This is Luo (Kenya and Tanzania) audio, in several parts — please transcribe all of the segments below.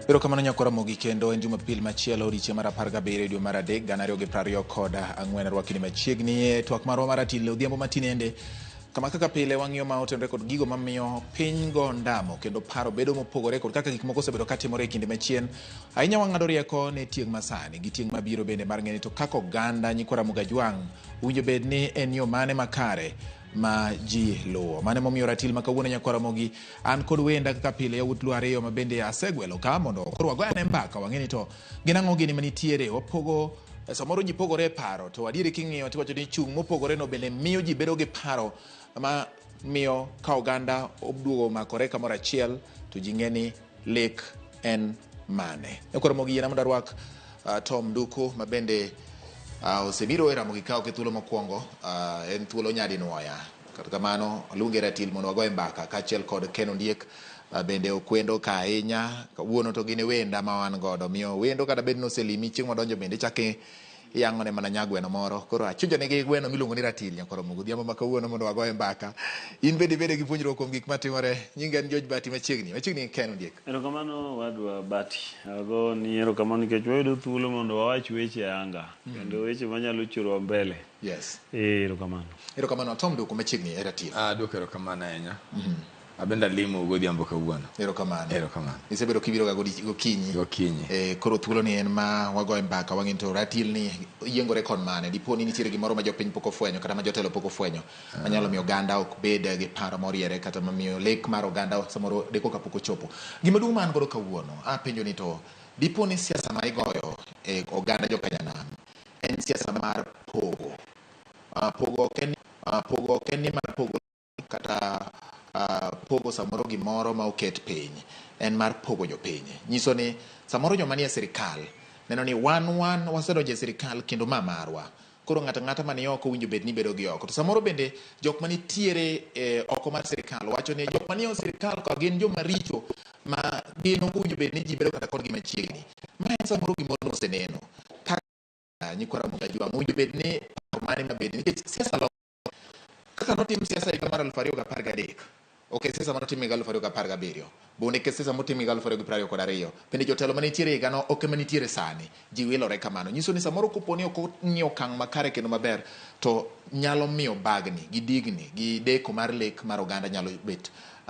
erokamano nyakora mogi kendo en jumapil machielo odiechieng' mar apar gabiriyo dwe mar adek gana ariyo gi prariyo kod ang'wen arwakini machiegni e twak marwa mar atile odhiambo matinende kama kaka pile wang'iyo ma otenore kod gigo mamiyo piny go ndamo kendo paro bedo mopogore kod kaka gik moko osebedo katimore e kinde machien ahinya wang'ado rieko ne tieng' masani gi tieng' mabiro bende mar ng'eni to kaka oganda nyikwara mugajwang' Owinjo bed ni en yo mane makare ma ji luwo. Mane momiyo ratil ma kawuono Nyakwar Ramogi an kod wenda kaka pile yawuot Luo ariyo ma bende asegwelo ka mondo koro wagoy ane mbaka wang'e ni to gin ang'o gini manitiere wapogo samoro ji pogore e paro to adieri king'iyo tiwacho ni chung' mopogore no bende miyo ji bedo gi paro ma miyo ka oganda oduogo makore kamoro achiel to ji ng'e ni lek en mane. E koro mogi yiena mondo arwak uh, Tom Duku ma bende uh, osebiro e Ramogi Kawo ke thuolo mokwongo uh, en thuolo nyadi nwoya. Kata kamano aluonge Ratil mondo wagoye mbaka kaachiel kod Ken Ondiek uh, bende okwendo ka ahinya kawuono to gin e wenda ma wan godo miyo wendo kata bed noselimi chieng' wadonjo bende ichake Iyang'one mana nyagweno moro. Koro achunjo nigi gweno miluongo ni ratil nyaka oromo godhiambo ma kawuono mondo wagoye mbaka. In bende ibede gi puonjruok kuom gik matimore. Nyinga en George Bati machiegni. Machiegni gi Ken Ondiek. Erokamano owadwa Bati. Agoni erokamano nikech wayudo thuolo mondo wawach weche ayanga kendo weche manyalo churowa mbele. Yes. Ee erokamano. Erokamano. Tom Duku machiegni e ratil. Aduoko erokamano ahinya. Abende alimo godhiambo kawuono. Erokamano. Erokamano. Isebedo kibiroga godi- gokinyi. Gokinyi. Eh, koro thuolo ni en ma wagoye mbaka wang'e ni to ratil ni yiengore kon mane dipo ni nitiere gimoro ma jopiny pok ofwenyo kata ma jotelo pok ofwenyo manyalo miyo oganda ok bed gi paro moriere kata mamiyo lek mar oganda samoro deko ka pok ochopo gima duong' ma an godo kawuono apenjo ni to dipo ni siasa ma igoyo e oganda jokanyanam en siasa mar pogo Ah, pogo ok en ah, pogo ok en ni mar pogo kata uh, pogo samoro gimoro ma oket piny en mar pogo jopiny nyiso ni samoro joma nie sirikal neno ni wan wan wasedonjo e sirikal kendo ma marwa koro ng'ato ang'ata mani oko winjo bed ni bedo gi oko to samoro bende jok mani tiere eh, oko mar sirikal wacho ni jok mani e sirikal ka gin joma richo ma gin ok winjo bed ni ji bedo kata kodgi machiegni ma en samoro gimoro noseneno kaka nyikwa Ramogi Ajwang' owinjo bed ni paro mane mabedi nikech siasa Sasa notim siasa higa mar aluf ariyo gi apar gadek ok e siasa mane otim higa aluf ariyo gi apar gabiriyo bende ke siasa motim higa aluf ariyo gi piero ariyo kod ariyo bende jotelo mane nitiere higano ok ema nitiere sani ji wilore kamano nyiso ni samoro kopo ni ok ong'i okang' makare kendo maber to nyalo miyo bagni gi digni gi deko mar lek mar oganda nyalo bet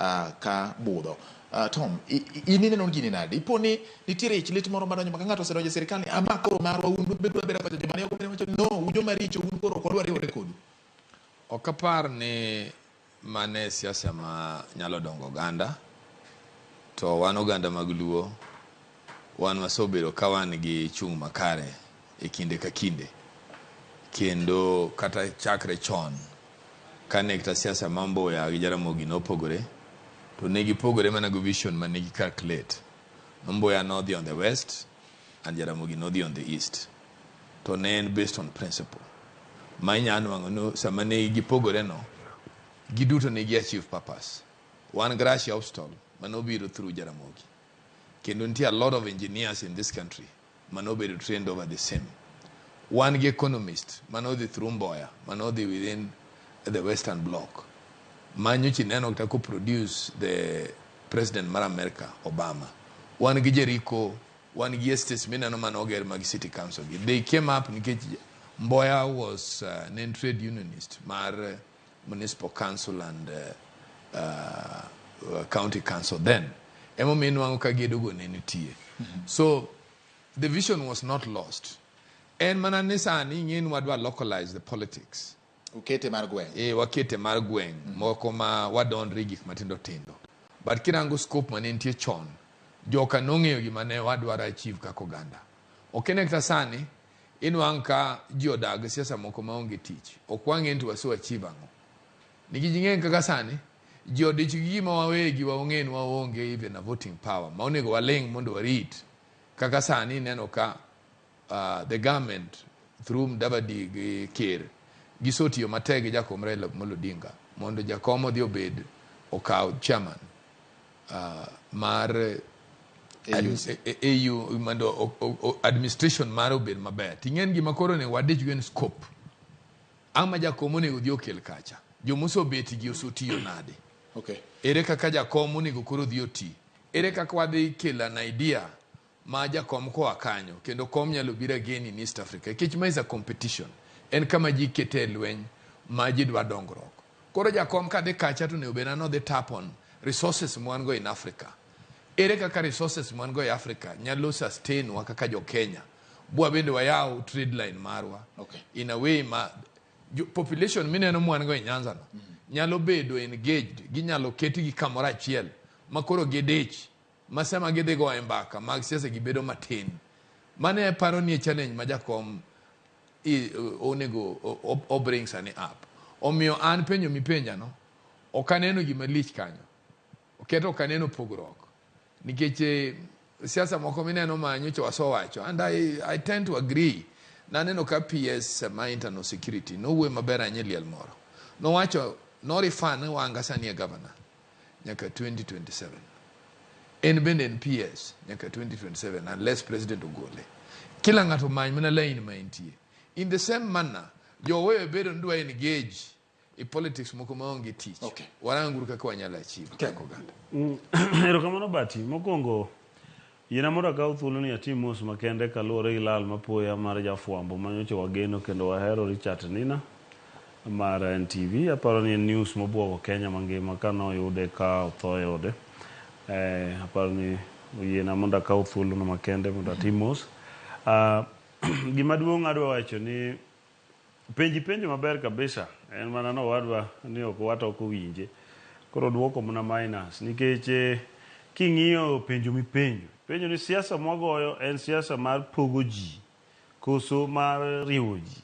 ah, ka budho Uh, Tom, i- i- in ineno gini nade? Ipo ni nitiere ich lit moro madonjo maka ng'ato osedonjo e sirkal ni ama koro marwa un bedu abeda kocha joma ne ok obed wacho ni no un joma richo un koro ok wadwar riwore kodu. Ok apar ni mane siasa ma nyalo dongo oganda, to wan oganda mag Luo Wan wasebedo ka wan gi chung' makare e kinde ka kinde, kendo kata chakre chon kane kta siasa ma Mbuya gi Jaramogi nopogore, to ne gipogore mana gi vision ma ne gi-calculate. Ma Mbuya nodhi on the west and Jaramogi nodhi on the east. To ne en based on principle. Ma inya nwang'o ni sama ne gipogore no, giduto ne gi-achieve purpose. Wan gi Russia obstacle mane obiro through Jaramogi. Kendo nitie a lot of engineers in this country mane obedo trained over the same. Wan gi economist mane odhi through Mboya, mane odhi within the western block. Ma nyocha ineno kata ko produce the president mar America, Obama. Wan gi Jericho, wan gi estates mineno mane oger mag city council gi. They came up nikech Mboya was uh, ne en trade unionist mar municipal council and uh, uh, county council then emomiyo inwang'o ka gedogo ne nitie so the vision was not lost en mana ni sani ing'e ni wadwa localize the politics ukete mar gweng' e wakete mar gweng' moko ma wadonre gik matindo tindo but kirango scope mane nitie chon joka nong'eyo gima ne wadwaro achieve kaka oganda ok ene kata sani Inwang' ka ji odak gi siasa moko ma onge tich. Ok wang'e ni to wase achieve ang'o. Nikech ing'eng' kaka sani, ji odich gi gima wawegi waong'e ni waonge even a voting power ma onego waling' mondo warit. Kaka sani ineno ka uh, the government through Mdavadi gi Ker gisotiyo matek gi jakom Raila Amolo Odinga mondo jakom odhi obed okaw chairman uh, mar AUC. Ad- e- e- AU mondo o- o- o- administration mare obed maber ting'en gima koro onego wadichgo en scope ama jakom onego dhi okel kacha jomosobetigi osotiyo nade Okay. ere kaka jakom onego koro dhi oti ere kaka wadhi kelo an idea ma jakom koa kanyo kendo kom nyalo biro again in East Africa nikech ma is a competition en kama ji kete e lweny ma ji dwa dongruok koro jakom ka dhi kacha to onego bedna nodhi tap on resources mwan go in Africa ere kaka resources mwan go e Africa nyalo sustain wa kaka jo Kenya bwa bende wayaw trade line marwa okay. in a way ma population mineno mwan go e Nyanza no mm -hmm. nyalo bedo engaged ginyalo ketgi kamoro achiel makoro gidich ma sama gidhi goye mbaka mag siasa gi bedo matin. Mane aparo ni e challenge ma jakom i- o- onego o- o- o bring sani up. Omiyo an penjo mipenjano, ok aneno gima lich kanyo. Oketo ok aneno pogruok. Nikech eh, siasa moko mineno ma nyocha wasowacho and I, I tend to agree. Naneno ka PS ma internal security nowuoyo maber ahinya e liel moro. Nowacho, no refer ne wanga sani e governor. nyaka 2027. En bende en PS nyaka 2027 unless president ogole. Kila ng'ato many mana lain ma entie. In the same manner, jowewe bedo ni dwa engage e politics moko maonge tich. Okay. Waranguru kaka wanyalo achieve kaka oganda. Erokamano Bati. Mokwongo Yiena mondo akaw thuoloni atim mos makende kaluwore gi lal mapoya mar jafwambo ma nyocha wageno kendo wahero Richart Nina mar NTV. Aparo ni en news mobwogo Kenya mangima kane oyude ka otho e ode. Eh, aparo ni oyiena mondo akaw thuolono makende mondo atim mos. Ah, gima duong' adwa wacho ni. Penji penjo maber kabisa en mana no wadwa ni ok wat ok owinje. Koro duoko mna minus nikech king'iyo penjo mipenjo penjo ni siasa mwagoyo en siasa mar pogo ji koso mar riwo ji.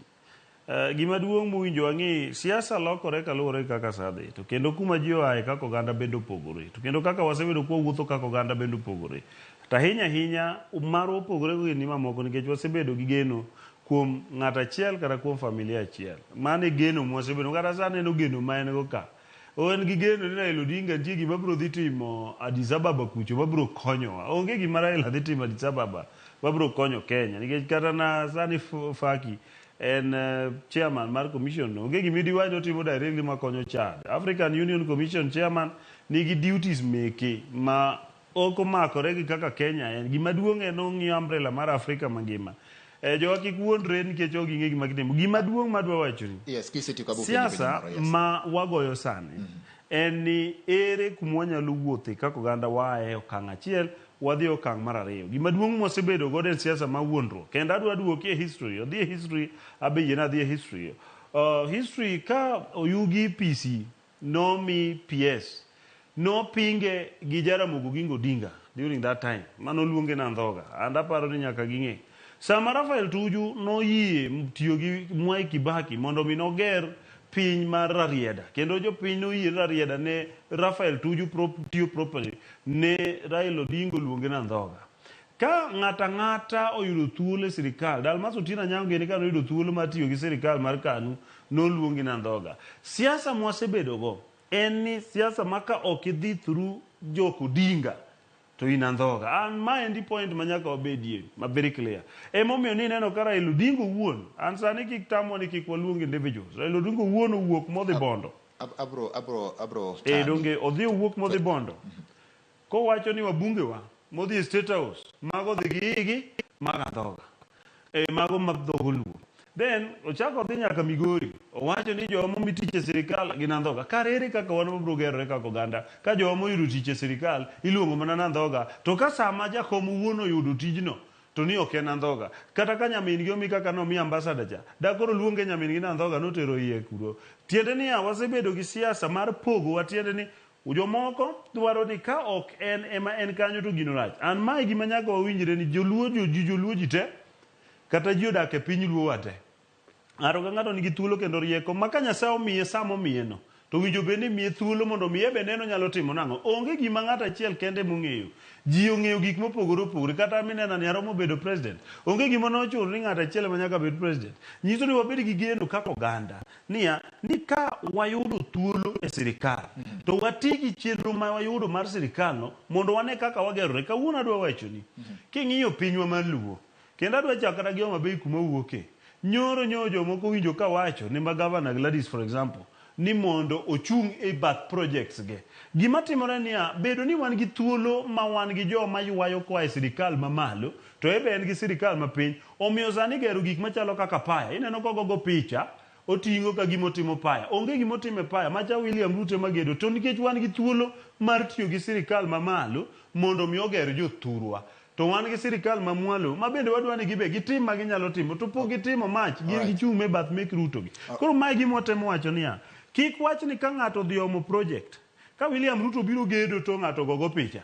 Uh, gima duong' muwinjo wang'i siasa lokore kaluwore gi kaka saa dhi to kendo kuma ji oaye kaka oganda bende opogore to kendo kaka wasebedo kwa wuotho kaka oganda bende opogore to ahinya ahinya marwa opogore gi ni mamoko nikech wasebedo gi geno kuom ng'ato achiel kata kuom familia achiel. Mano e geno mwasebedo kata sa aneno geno ma en go ka. O en gi geno ni Raila Odinga nitie gima biro dhi timo Addis Ababa kucho ma biro konyowa. Onge gima Raila dhi timo Addis Ababa ma biro konyo Kenya nikech kata na sani Faki en eh, chairman mar commission no. Onge gima idiwach ni otimo directly ma konyo Chad. African Union Commission chairman nigi duties meke ma Ok omakore gi kaka Kenya en. Gima duong' en ong'iyo umbrella mar Afrika mangima. Eh, jowa kik wuondre nikech ok ging'e gima gitimo. Gima duong' madwa wachoni, Yes, kisetieko abo penjo penjo siasa moro. Yes. ma wagoyo sani en ni ere kuma wanyalo wuothe kaka oganda waaye e okang' achiel wadhi e okang' mar ariyo. Gima duong' mwasebedo godo en siasa ma wuondruok. Kendo adwa duoki e history. Odhi e history, abe yiena adhi e history. Uh, history ka oyugi PC, nomi PS. Nopinge gi Jaramogi Oginga Odinga during that time mane oluonge ni andhoga and aparo ni nyaka ging'e. Sama Raphael Tuju noyie tiyo gi Mwai Kibaki mondo mi noger piny mar Rarieda kendo jopiny noyie ni Rarieda ne Raphael Tuju tiyo properly ne Raila Odinga oluonge ni andhoga. Ka ng'ato ang'ata oyudo thuolo e sirikal, Dalmas Otieno Anyango gini ka noyudo thuolo mar tiyo gi sirikal mar KANU, noluongi ni andhoga. Siasa mwasebedogo en ni siasa ma ka ok idhi through jok Odinga to in andhoga. An ma endi point ma nyaka wabedie ma very clear. Ema omiyo ni ineno ka Raila Odinga owuon, an sani kik tamwa ni kik waluong individuals. Raila Odinga owuon owuok modhi Bondo. Abro, abro, abro Ee, tami. donge odhi owuok modhi Bondo? Kowacho ni wabungewa modhi e State House, mago odhi gi igi, mago adhoga. Eh, mago ma dhogo luo. Then, ochako odhi nyaka Migori, owacho ni jowa momi tich e sirikal gin andhoga. Kare ere kaka wan wabiro gerore kaka oganda ka jowa moyudo tich e sirikal iluongo mana ni andhoga, to ka sama jakom owuon oyudo tijno to ni ok en andhoga. Kata ka nyamin gi omi kaka nomi ambassador cha, da koro luonge nyamin gi ni andhoga notero iye kuro. Tiende niya, wasebedo gi siasa mar pogowa tiende ni Jomoko dwaro ni ka ok en ema en kanyo to gino rach. An mae gima nyaka wawinjre ni joluo jo ji joluo ji te kata ji odak e piny luo wa te. Ng'ato ka ng'ato nigi thuolo kendo rieko ma ka Nyasaye omiye sama omiye no to winjo bed ni imiye thuolo mondo omiye be neno nyalo timo nang'o. Onge gima ng'ato achiel kende mong'eyo. Ji ong'eyo gik mopogore opogore. Kata an minena ni aromo bedo president. Onge gima ne ochuno ni ng'ato achiel ema nyaka bed president. Nyiso ni wabed gi geno kaka oganda niya ni ka wayudo thuolo e sirikal mm. to wati gi chenro ma wayudo mar sirikalno mondo wane kaka wagerore kawuono adwa wachoni mm. king'iyo pinywa mar luo kendo adwa chako kata gi homa bei kuma wuoke nyoro nyoro jomoko winjo ka wacho ni ma gavana gladis for example ni mondo ochung' e bath projects ge gima timore niya bedo ni wan gi thuolo ma wan gi joma ywayo koa e sirikal mamalo to ebe en gi sirikal mapiny Omiyo sani igero gik machalo kaka paya, ineno kogogo picha, oting'o ka gima otimo paya. Onge gima otimo e paya, macha William Ruto ema gedo. To nikech wan gi thuolo mar tiyo gi sirikal ma malo mondo mi oger jo thurwa. To wan gi sirikal ma mwalo ma bende wadwa ni gibe gitim ma ginyalo timo. To pok gitimo mach, gin Alright. gichung' me bath mek Ruto gi. Koro mae e gima watemo wacho niya, kik wach ni ka ng'ato odhi omo project, ka William Ruto obiro gedo to ng'ato ogogo picha,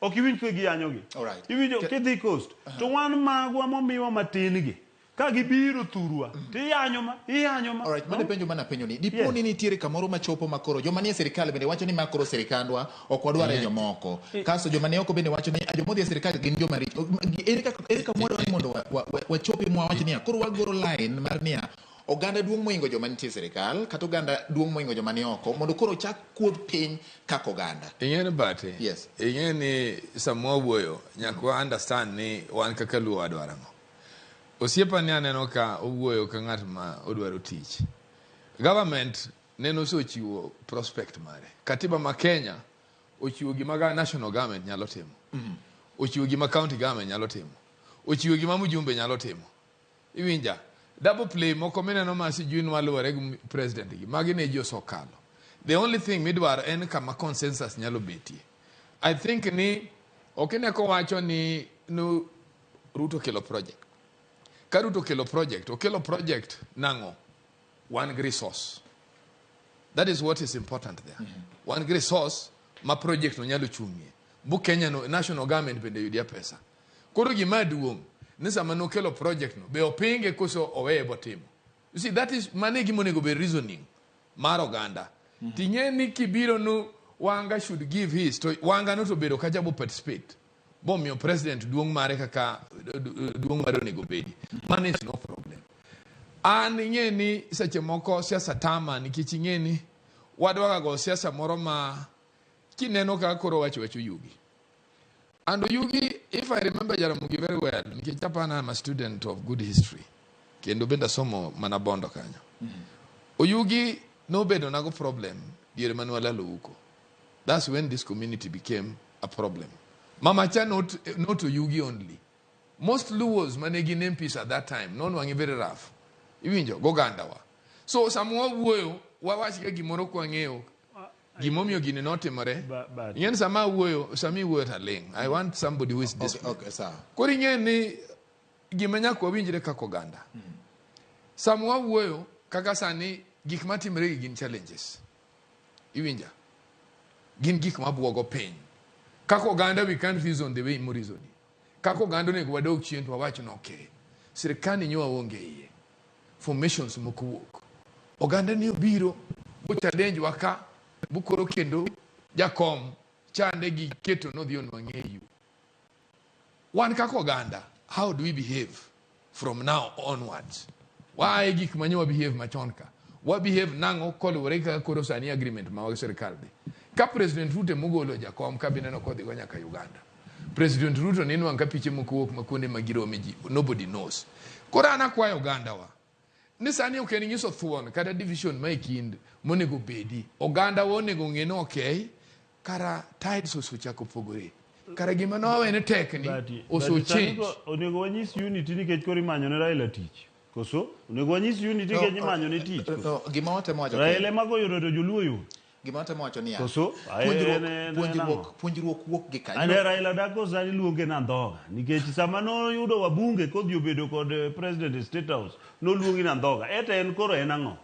Ok iwinj ka giyanyogi. Alright. Iwinjo Ke- kidhi coast to wan magwa momiwa matin gi ka gibiro thurwa to iyanyo ma iyanyo ma. Alright, mane penjo mana penjo ni dipo Yes. ni nitiere kamoro machopo makoro joma nie sirkal bende wacho ni ma koro sirkandwa ok wadware Yeah. jomoko kasto joma ne oko bende wacho ni "Ah, joma odhi e sirkal gin joma richo ere kaka ere kama wadwaro ni mondo wa- wa- wa- wachopi mwa wach niya koro wagoro line mar niya oganda duong' moingo joma nitie e sirikal kata oganda duong' moingo joma ni oko mondo koro ochak kuodh piny kaka oganda. Ing'e ni bati? Yes. Ing'e ni sama wawuoyo nyaka wa understand ni wan kaka Luo wadwaro ang'o. Osiepa ni aneno ka owuoyo ka ng'at ma odwaro tich. Government nene osechiwo prospect mare. Katiba ma Kenya ochiwo gima ga national government nyalo timo. Ochiwo gima county government nyalo timo. Ochiwo gima mjumbe nyalo timo. Iwinja. Double play moko mineno ma sijui nwa luwore gi president gi. Magi ne ji osokalo. The only thing midwaro en kama consensus nyalo betie. I think ni ok ine kowacho ni nu Ruto kelo project. Ka Ruto kelo project, okelo project nang'o? Wan gi resource. That is what is important there. Mm -hmm. Wan gi resource ma project no nyalo chung'ie. Bu Kenya no, national government bende yudia pesa. Koro gima duong' ni sama nokelo project no be opinge koso oweye botimo. You see that is mane gima onego be reasoning mar oganda. Mm -hmm. Ting'e ni kibiro nu Wanga should give his to Wanga no to bedo kacha bo participate. Bomiyo president duong' mare kaka duong' mare onego bedi. Man is no problem. An ing'e ni seche moko siasa tama nikech ing'e ni wadwagago siasa moro ma kineno kaka koro wacho wacho yugi. And Oyugi, if I remember Jaramogi very well, nikech Japan I'm a student of good history. Kendo bende asomo mana bondo kanyo. Oyugi nobedo nago problem diere mane walalo huko. That's when this community became a problem. Mama Cha not, not Oyugi only. Most Luos mane gin MPs at that time, non wangi very rough. Iwinjo, gogandawa. So sama wawuoyo, wawach ka gimoro kwang'eyo Gimomiyo gini notimore. Ing'e ni sama awuoyo, sama iwuoyo to aling'. I want somebody who is Okay, disciplined. okay, sawa. Koro ing'e ni gima nyaka wawinjre kaka oganda. Sama wawuoyo kaka sani gik matimre gi gin challenges. Iwinja? Gin gik mabwogo piny. Kaka oganda we can't reason the way mo reasoning. Kaka oganda onego wadog chien to wawach ni okay, sirkani nyo waonge iye, formations moko wuok, oganda ni obiro bochadenjwa ka bukoro kendo jakom chande gi keto nodhi onwang'eyu. Wan kaka oganda, how do we behave? from now onwards waaye gik manye wabehave machon ka wabehave nang'o koluwore gi kaka koro sani agreement ma wag sirikal dhi ka president ruto emogolo jakom ka bineno kodhigo nyaka uganda president ruto ne inwang' ka piche moko wuok ma kuonde ma girome ji nobody knows koro an akwayo ogandawa ni sani ok en nyiso thuon kata division ma e kind monego bedi ogandawa onego ng'e ni okay Kara tides osechako pogore. Kara gima nowe ne tek ni But- but oso sani change. ko- onego wanyis unity nikech koro imanyo ne Raila tich koso onego wanyis unity No, nikech imanyo ne tich koso? no, gima watemo wacho Raila kendo, ema goyudo to joluo yudo gima watemo wacho niya, Koso? Ah, eh, puonjruok- en- en- en puonjruok- ang'o? puonjruok wuok gi kanye? ane Raila dako sani luonge na ndhoga nikech sama noyudo wabunge kodhi obedo kod eh, president e state house noluongi na ndhoga eta en koro en ang'o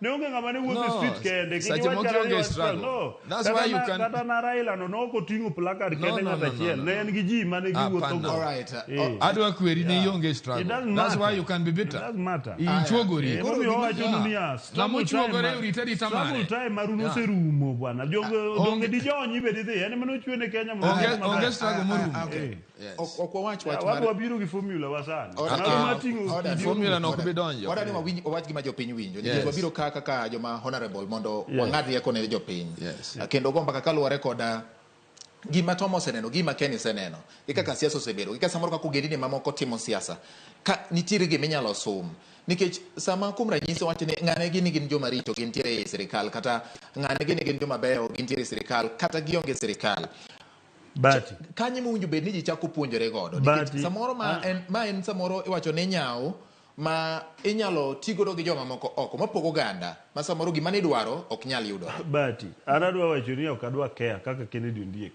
Ne onge ng'ama ne wuotho no, e street kende. Sache moko ionge e struggle. No. That's kata why you can... Kata na Raila no, no koting'o placard no, kende no, ng'ata achiel. No, no, no, no. Ne en gi ji mane ah, giwuotho go. All right. Uh, eh. Adwa kweri ne ionge e struggle. It doesn't matter. That's why you can be bitter. It doesn't matter. Ichuogori. Koro mi owacho ni niya. Ng'ama ochuogore orite rita mare. Struggle time maru noserumo bwana. Donge di jonyi be didhi. En mane ochwe ne Kenya. Onge struggle morumo. Ok ok wawach wach mar wabiro gi formula wa sani Order- Mano Ah, mating'o order- kidieny. formula no ok order- bi donjo. order ni wawinj- wawach gima jopiny winjo nikech Yes. wabiro ka kaka joma honorable mondo Yes. wang'ad rieko ne jopiny Yes. Ah, kendo go mbaka kaluwore koda gima tom oseneno gima ken iseneno gi kaka siasa osebedo gi kaka samoro kaka ogendini mamoko timo siasa ka nitiere gima inyalo sum nikech sama kuom ranyisi wacho ni ng'ane gini gin joma richo gintiere e sirikal kata ng'ane gini gin joma beyo gintiere e sirikal kata gionge e sirikal Bati. Kanyo ema owinjo bed ni ji chako puonjore godo. Nikech Bati. samoro ma Ah. en, ma en samoro iwacho ni nyawo ma inyalo ti godo gi joma moko oko mapogo oganda ma samoro gima nidwaro ok nyal yudo. Bati, an adwa wacho ni ok adwa care kaka Kennedy Ondiek.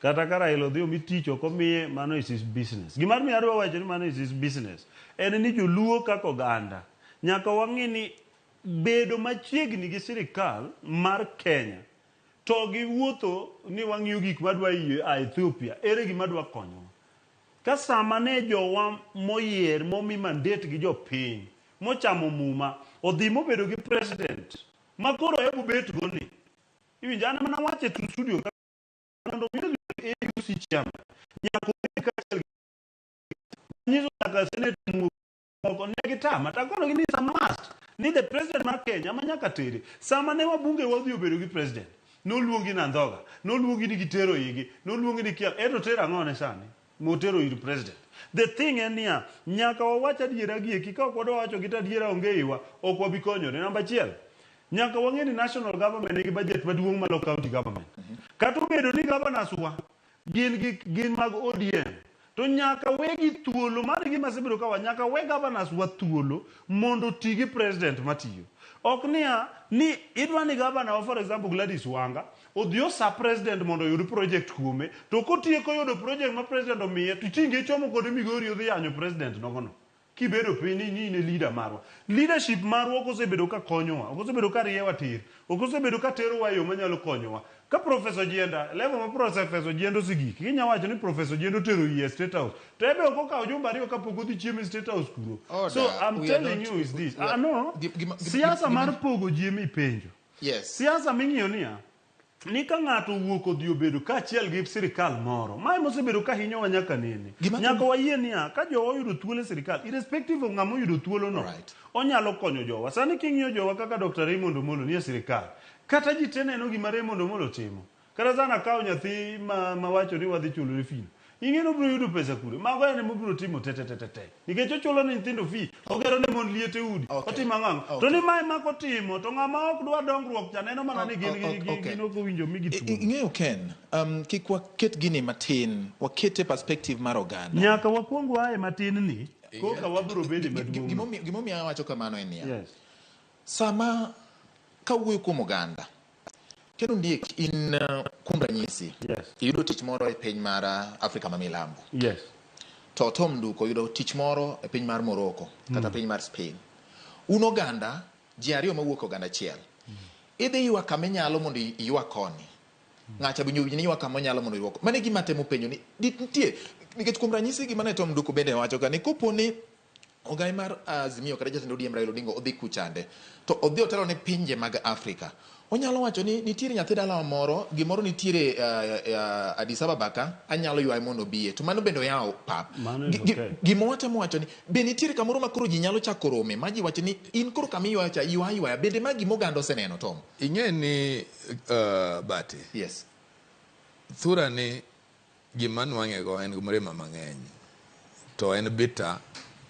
Kata ka Raila odhi omi tich ok omiye, mano is his business. Gima omiyo adwa wacho ni mano is his business, en ni joluo kaka oganda, nyaka wang'i ni bedo machiegni gi sirikal mar Kenya, To gi wuotho ni wang'iyo gik ma dwa yie a Ethiopia, ere gima dwa konyowa? Ka sama ne jowa moyier momi mandate gi jopiny, mochamo muma, odhi mobedo gi president ma koro hebu bet go ni, iwinjo an ema nawacho e Truth Studio ka mondo mi odhi AUC chairman, nyaka obed kaachiel gi manyiso nyaka Senator Mugo moko ne gitama to akonogi ni sama must ni the president mar kenya ma nyaka tere sama ne wabunge wadhi obedo gi president noluongi na ndhoga noluongi ni gitero igi noluongi ni kia eto tero ang'o ne sani motero ir president the thing en niya nyaka wawach adiera gi eki ka ok wadwa wacho gi to adiera onge iwa ok wabi konyore namba achiel nyaka wang'e ni national government nigi budget maduong' malo county government kata obedo ni governors wa gin gi gin mag ODM to nyaka wegi thuolo mano e gima asebedo kawa nyaka we governors wa thuolo mondo oti gi president matiyo ok niya ni idwa ni governor wa for example Gladys Wanga odhi osa president mondo oyud project kuome to kotieko yudo project ma president omiye to iching ichomo kode Migori odhi yanyo president nogono Kibedo piny ni in e leader marwa, leadership marwa ok osebedo ka konyowa, ok osebedo ka riewa tir, ok osebedo ka terowa e yo manyalo konyowa. Ka Professor Ojienda, level ma Professor Ojienda osegik, kinya wacho ni Professor Ojienda otero iye e State House, to ebe ok okawo jumbe ariyo ka pok odhi chiemo e State House kuro. So Order, I'm we are telling not, you is this, we are, ah no, gima, gima, siasa gima, mar pogo ji ema ipenjo. yes. Siasa ming'iyo niya, ni ka ng'ato owuok odhi obedo kaachiel gi sirkal moro, mae mosebedo ka hinyowa nyaka nene. Gima nyaka wayie niya, ka jowa oyudo thuolo e sirkal, irrespective of ng'ama oyudo thuolono, right. onyalo konyo jowa. Sani king'iyo jowa kaka Dr. Raymond Omolo nie sirkal, kata ji te neno gima Raymond Omolo timo. Kata sana kawo nyathi ma, ma wacho ni wadhi chulone fee. Ing'e ni obiro yudo pesa kure. Mago en ema obiro timo te te te te te. Nikech ochulo ne nyithindo fee, ogero ne mon liete udi, Okay. otimo ang'o ang'o. To Okay. ni mae mako timo, to ng'ama ok dwa dongruok cha neno mana ni gin O- o- gi- gi- okay. gin ok owinjo mi I- i- gituo. ing'eyo ken um, kik waket gini matin wakete perspective mar oganda Nyaka wakwong wae matin ni, koka wabiro bede Gi- gi- maduong'. gimomi- gimomiyo awacho kamano en niya Yes. sama kawuoyo kuom oganda Ken Ondiek, in uh, kuom ranyisi Yes. iyudo tich moro e piny mar uh, Afrika ma milambo Yes. to Tom Nduko yudo tich moro e piny mar Morocco kata piny mar Spain. Un oganda ji ariyo mawuok e oganda achiel. Idhi ywa kama inyalo mondo i- iywa koni. Ng'acha bi nyubi ni ywa kama onyalo mondo iywa. ko- Mano e gima atemo penjo ni di- nitie nikech kuom ranyisi gima ne Tom Nduko bende wacho ka ni koponi Ogai mar Azimio kata jatend ODM Raila Odinga odhi kuchande to odhi otelo ne pinje mag Afrika. Onyalo wacho ni nitiere nyathi dalawa moro, gimoro nitiere uh, uh, Addis Ababa ka, anyalo ywaye mondo obiye. To mano bende oyawo pap. Mano en okay. Gima watemo wacho ni be nitiere kamoro ma koro ji nyalo chako rome ma ji wacho ni in koro kama iywayo cha ywa ywaya bende ma gima oganda oseneno Tom. Ing'e ni uh, Bati. Yes. Thurani Gima nwang'ego en mrima mang'eny to en bitter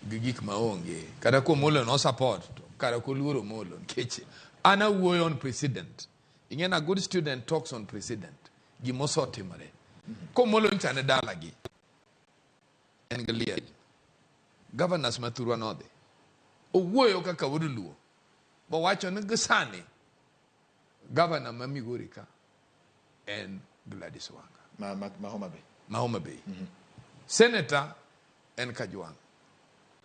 gi gik maonge kata kuom Omolo no support to kara koluoro Omolo nikech an awuoyo on president ing'e na good student talks on president gima osetimore komolo ncha ne dalagi en gi liel governors ma thurwa nodhi owuoyo kaka wuod luo bowacho ni gisani Gavana ma Migori ka en Gladys Wanga ma, ma, ma Homa Bay. ma Homa Bay. Senator en Kajwang'.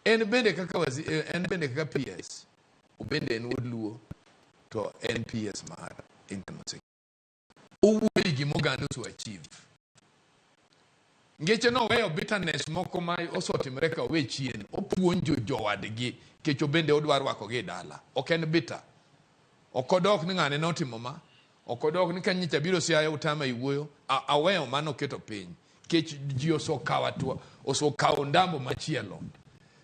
En bende kaka wazi, eh, en bende kaka PS. Obende en wuod Luo to en PS mar Internal Security. Owuoyo gi gima oganda oseachieve. Ngeche no weyo bitterness moko ma osotimre ka owe chien. Opuonjo jowadgi kech obende odwa rwakogi e dala. Ok en bitter. Ok odok ni ng'ane notimo ma. Ok odok ni ka nyicha biro siaya utama e wuoyo. A, aweyo mano oketo piny. Kech ji osokawa tuo, osokawo ndambo machielo.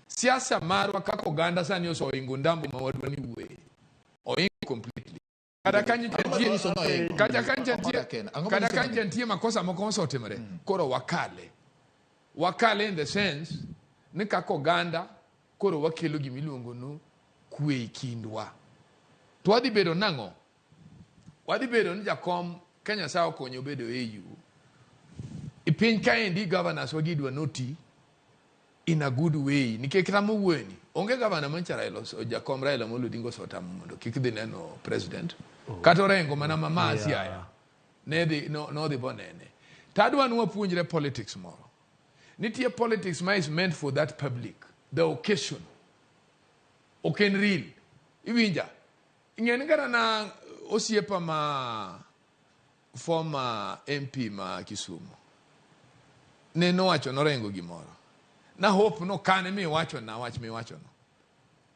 Siasa marwa kaka oganda sani osoingo ndambo ma wadwa ni wuoye. Oingo completely. kata ka nyicha Ang'o nitie- manyiso ni ohingo kata ka Omoda nyicha nitie- Ken? Ang'o kata manyiso ka ni- nyicha nitie makosa moko mosetimore koro wakale wakale in the sense ni kaka oganda koro wakelo gima iluongo ni kwe e kindwa to wadhi bedo nang'o wadhi bedo ni jakom ka nyasaye okonyo bedo au e piny kaendi governors wagidwa noti in a good way nikech kata mowueni onge gavana mancha Raila ose- jakom Raila Amolo Odinga osetamo mondo kik dhi neno president kata orengo mana mama Yeah. Siaya ne dhi no- nodhi bonene tadwa ni wapuonjre politics moro nitie politics ma is meant for that public the occasion ok en real iwinja ing'eni kata na osiepa ma former MP ma Kisumu ne nowacho norengo gimoro na hope no kane mi wacho na wach mi wacho no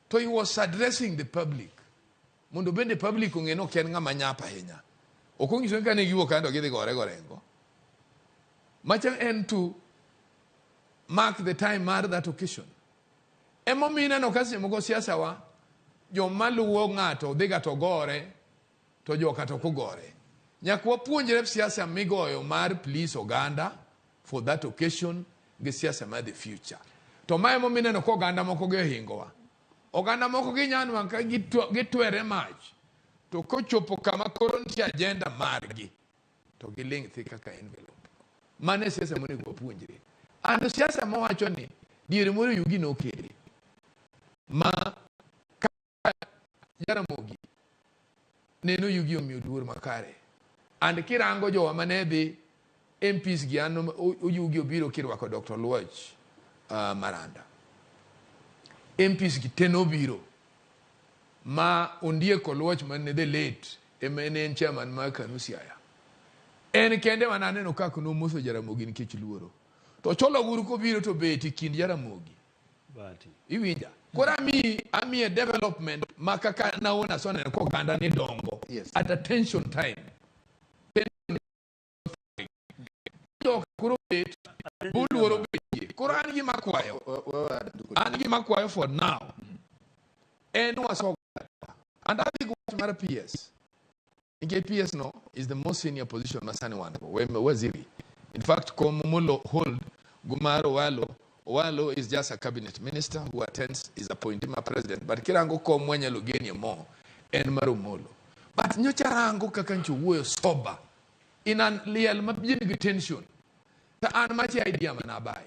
to he was addressing the public mondo bende public ong'e ni ok en ng'ama nyap ahinya ok onyiso ni kane giwuok kando gidhi gore gorengo macha en to mark the time mar that occasion emomiyo ineno ka seche moko siasa wa joma luwo ng'ato dhiga to gore To joka to kugore. Nyaka wapuonjre siasa migoyo mar please oganda for that occasion gi siasa mar the future. To mae mo mineno ko oganda moko gi ohingowa. Oganda moko gi nyanwa ka gitwere mach. To kochopo kama koro nitie agenda margi to giling' thi kaka envelope. Mano e siasa monego wapuonjre. Ando siasa mowacho ni diere moro yugi nokele ma Jaramogi neno yugi omiyo luor makare and kirango jowa mane dhi MPs gi an oyugi obiro kirwako Dr. Luoch uh, Maranda MPs gi ten obiro ma ondieko Luoch man the late ema en chairman mar Kanu Siaya en kende mana aneno kaka nomoso Jaramogi nikech luoro to Cholo Guru kobiro to beti kind Jaramogi iwinja koro amiyi amiye development ma kaka naona asonene ko oganda ni dongo Yes. at attention time Dok koro bet boluoro betie koro an gima kwayo an gima kwayo for now en wasogo and adhi gi wach mar ps Nikech PS no is the most senior position ma sani wan go, we- waziri. In fact, kom molo hold Gumaro Owalo, Owalo is just a cabinet minister who attends his appointee ma president, but kirango kom mwanyalo genie mo en mar Omolo. But nyocha rango kaka ncho wuoyo sober in an liel ma bien gi tension. To an machi idea mana abaye.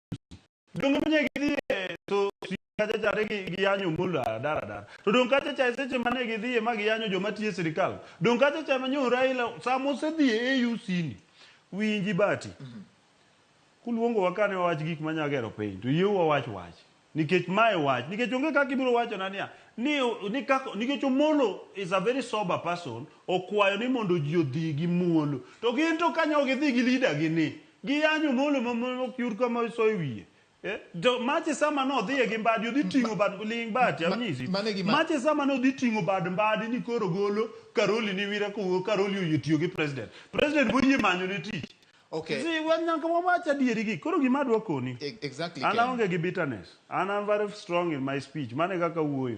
donge manye gidhi e so si kacha cha ne gi- giyanyo mul a- dar adar to donge kacha cha e seche mane gidhi e ma giyanyo joma tiyo e sirikal donge kacha cha manyo Raila sama osedhi e AUC ni winji bati kuluongowa kane wawach gik manya gero piny to yieu wawach wach nikech mae wach nikech onge kaka ibiro wachona niya ni, ni kaka, nikech omolo is a very sober person okwayo ni mondo ji odhi gi muolo to gin to kanyo gidhi gi leader gi ni Giyanyo Omolo ma ma ok yud kama isoye wiye. Eh, to mache sama nodhiye gi mbadi odhi ting'o bad ling bati Ma- anyisi. mano e gima- Mache sama nodhi ting'o bad mbadi ni koro golo Karoli ni wira ko Karoli oyie tiyo gi president. President boyie manyo ne tich. Okay. Si wan nyaka wawach adieri gi. Koro gima adwa koni. E- Exactly. An Ken. aonge gi bitterness. An am very strong in my speech. Mane kaka wuoyo.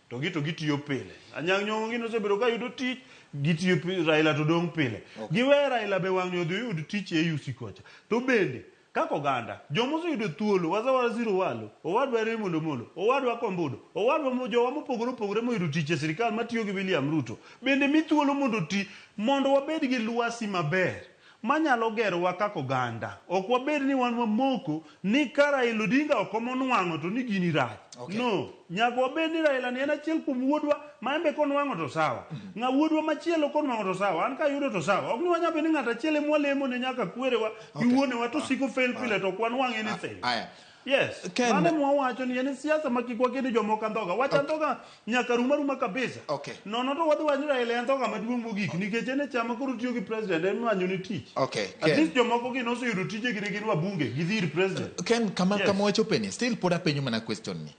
To gi to gitiyo pile. Anyang' Nyong'o gi nosebedo ka yudo tich, gitiyo pile, Raila to dong' pile. Okay. Giwe Raila be wang'yo odhi oyud tich e AUC kocha. To bende, kaka oganda, joma oseyudo thuolo, Wazawara Zero Walo, Owadwa Remo Lomolo, Owadwa Kombudo, Owadwa mo, jowa mopogore opogore moyudo tich e sirkal matiyo gi William Ruto, bende mi thuolo mondo oti, mondo wabed gi lwasi maber. manyalo gerowa kaka oganda. Ok wabed ni wan wamoko ni ka Raila Odinga ok omo nwang'o to ni gini rach. Okay. No, nyaka wabed ni Raila ni en achiel kuom wuodwa ma en be konwang'o to sawa. Mm-hmm. Ng'a wuodwa machielo konwang'o to sawa, an kayudo to sawa. Ok ni wanyalo bedo ni ng'ato achiel ema walemo ne nyaka kwerewa gi wuonewa to siko fail pile to ok wanwang' anything. Aya. Yes. Ken- Mane mwawacho ni en siasa ma kik waked jomoko andhoga. Wach andhoga nyaka rum aruma kabisa. Okay. Nono to wadhi wacho ni Raila e andhoga maduong' mogik nikech en e chama koro tiyo gi president en manyo ni tich. Okay, At Ken. least jomoko gin oseyudo tije gi gin wabunge gi dhir president. Ken, kama Yes. kama wachopeni, still pod apenyo mana question ni.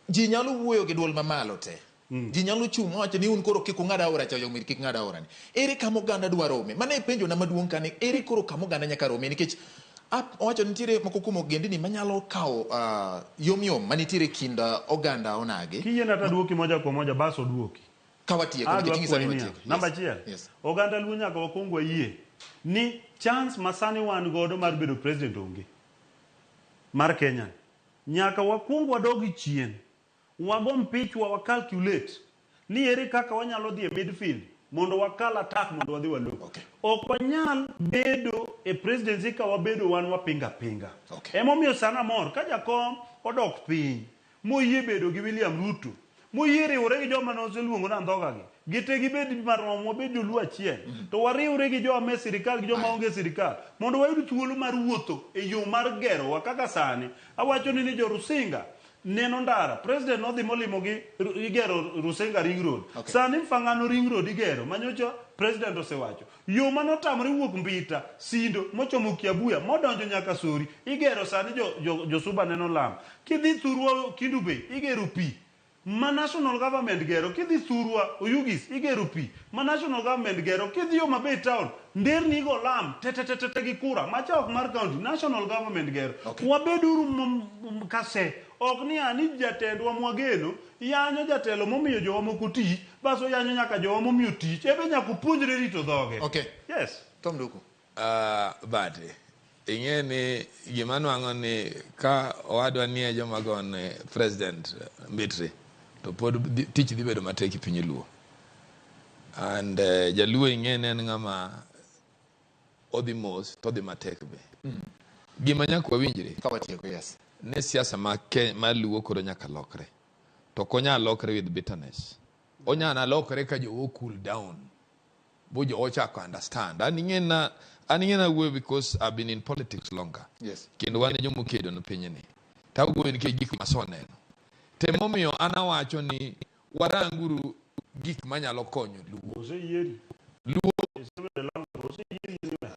Ji nyalo wuoyo gi dwol mamalo te. Mm. Ji nyalo chung' mawacho ni un koro kik ung'ad aora cha oyomir kik ng'ad aora ni. Ere kama oganda dwa rome? Mano e penjo na maduong' kani ere koro kama oganda nyaka rome nikech owacho nitiere moko kuom ogendni manyalo kawo uh, yom yom manitiere kind uh, oganda onagi. Kiyie na taduoki moja kwa moja bas oduoki. Kawatieko nikech ingisa ni watieko. Namba achiel. Yes. Oganda luo nyaka wakwong wayie ni chance masani wan godo mar bedo president onge mar Kenya. Nyaka wakwong wadogi chien. Wago mpich wa wa calculate ni ere kaka wanyalo dhi e midfield mondo wakal attack mondo wadhi walo. Okay. Ok wanyal bedo e presidency ka wabedo wan wapinga pinga. Okay. Emomiyo sana mor ka jakom odok piny moyie bedo gi William Ruto moyie riwore gi joma noseluongo na ndhoga gi gite gibed marom wabed joluo achiel mm. to wariwre gi joma me sirikal gi joma onge sirikal mondo wayud thuolo mar wuotho e yo mar gerowa kaka sani awacho ni ni jorusinga Neno ndara. President nodhi molimo gi igero Rusenga Ring Road. Okay. Sani Mfangano Ring Road igero manyocha President osewacho. Yo mane otamore wuok Mbita, Sindo, mochomo Kiabuya, modonjo nyaka Sori, igero sani jo, jo, jo Suba neno lam. Kidhi thurwa Kindu Bay, igero pi. Ma national government gero, kidhi thurwa Oyugis, igero pi. Ma national government gero, kidhi Homa Bay town, Nderni igo lam tetetetete gi kura ma cha ok mar county, national government gero. Okay. Wabeduru m- m- kase. Ok ni a ni jatendwa mwageno yanyo jatelo momiyo jowa moko tich, bas oyanyo nyaka jowa momiyo tich. Ebe nyaka opuonjre rito dhoge. Okay. Yes. Tom Nduku. Uh, but Ing'e ni gima nwang'o ni ka owadwa nie joma gone president Mbitri to pod dhi- tich dhi bedo matek e piny Luo. And eh, Jaluo ing'e ni en ng'ama odhi mos to odhi matek be. Gima nyaka wawinjre Ka watieko, yes. ni siasa ma Ke- ma Luo koro nyaka lokre. To ok onyal lokre with bitterness. Onyalo lokre ka jowo cool down. bo jo ochako understand an ing'e na an ing'e na wuoyo because I've been in politics longer Yes. kendo wan e joma okedo no pinyni to awuoyo nikech gik ma aseneno to emomiyo an awacho ni waranguru gik manyalo konyo luo Oseyieri. Luo. Osebedo e London. Oseyieri e England.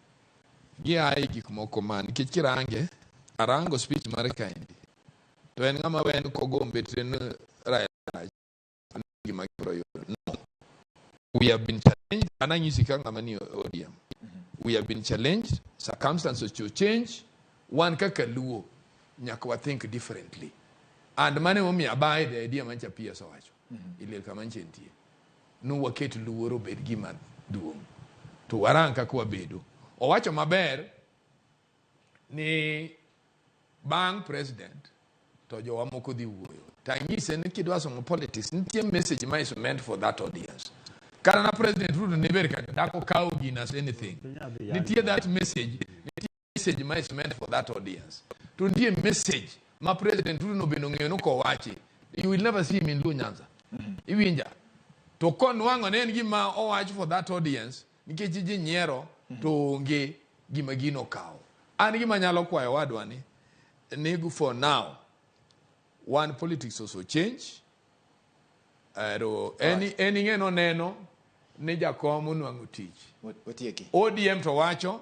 gia e gik moko ma nikech kirange arango speech mare kaendi to en ng'ama wen kogombe tren raila gima gibiro yudo no we have been challenged an anyisi ka ng'ama ni ODM we have been challenged circumstances to change wan kaka luo nyaka wa think differently and mane momiyo abaye the idea mancha PS owacho i lel ka ma nce nitie ni waket luor obed gima duong' to warang kaka wabedo owacho maber ni bang' president to jowa moko dhi wuoyo to anyise ni kidwa somo politics nitie message ma is meant for that audience kata na president ruto ne ber kata dak okawo gina as anything nitie that message message ma is meant for that audience to nitie message ma president Ruto nobeno ng'eyo ni kowachi you will never see him in Luo Nyanza mm-hmm. iwinja to konwang'o ne en gima owach for that audience nikech ji nyiero mm-hmm. to onge gima gino kawo an gima nyalo kwayo wadwa ni ni for now one politics also change ero en ing'e noneno ni jakom onwang'o tich odm to wacho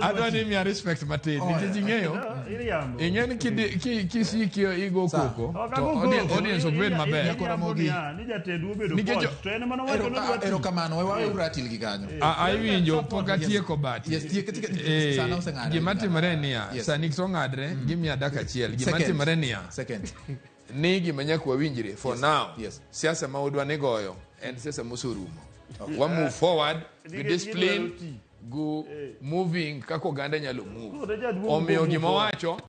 adwa ni miya respect matin oh, nikech ing'eyo ing'e ni kisiki igo koko to audience ok bed mabererokamanoewauratilgi kanyo aiwinjo pok atieko batigimatimore niya sani to ng'adre mm. gimiya dak achiel gimatimore niya ni gima nyaka wawinjre for yes. now yes. siasa ma udwa ni goyo en siasa mosorumo okay. wa move forward gi discipline gu eh. moving kaka oganda nyalo move omiyo gima wacho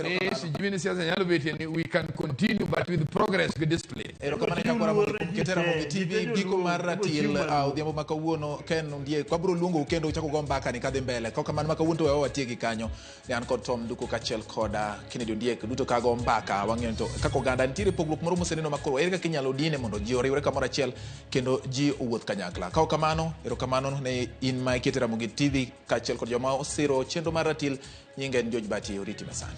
ni sijui ni siasa nyalo betie ni we can continue but with progress with discipline erokamano nyakwara mondo kuom kete ramogi tv giko mar ratil uh, odhiambo ma kawuono ken ndie kwabiro luongou kendo uchako go mbaka ni kadhi mbele kokamano ma kawuono to wewa watiegi kanyo ne an kod Tom Nduku kaachiel kod ah, Kennedy Ondiek duto kago mbaka wang'eyo to kaka oganda nitiere pogruok moro moseneno makoro ere kaka inyalo dine mondo ji oriwre kamoro achiel kendo ji owuoth kanyakla kaok kamano erokamano ne in ma ikete Ramogi TV kaachiel kod joma osiro chenro mar ratil nyinga en George Bati oriti masani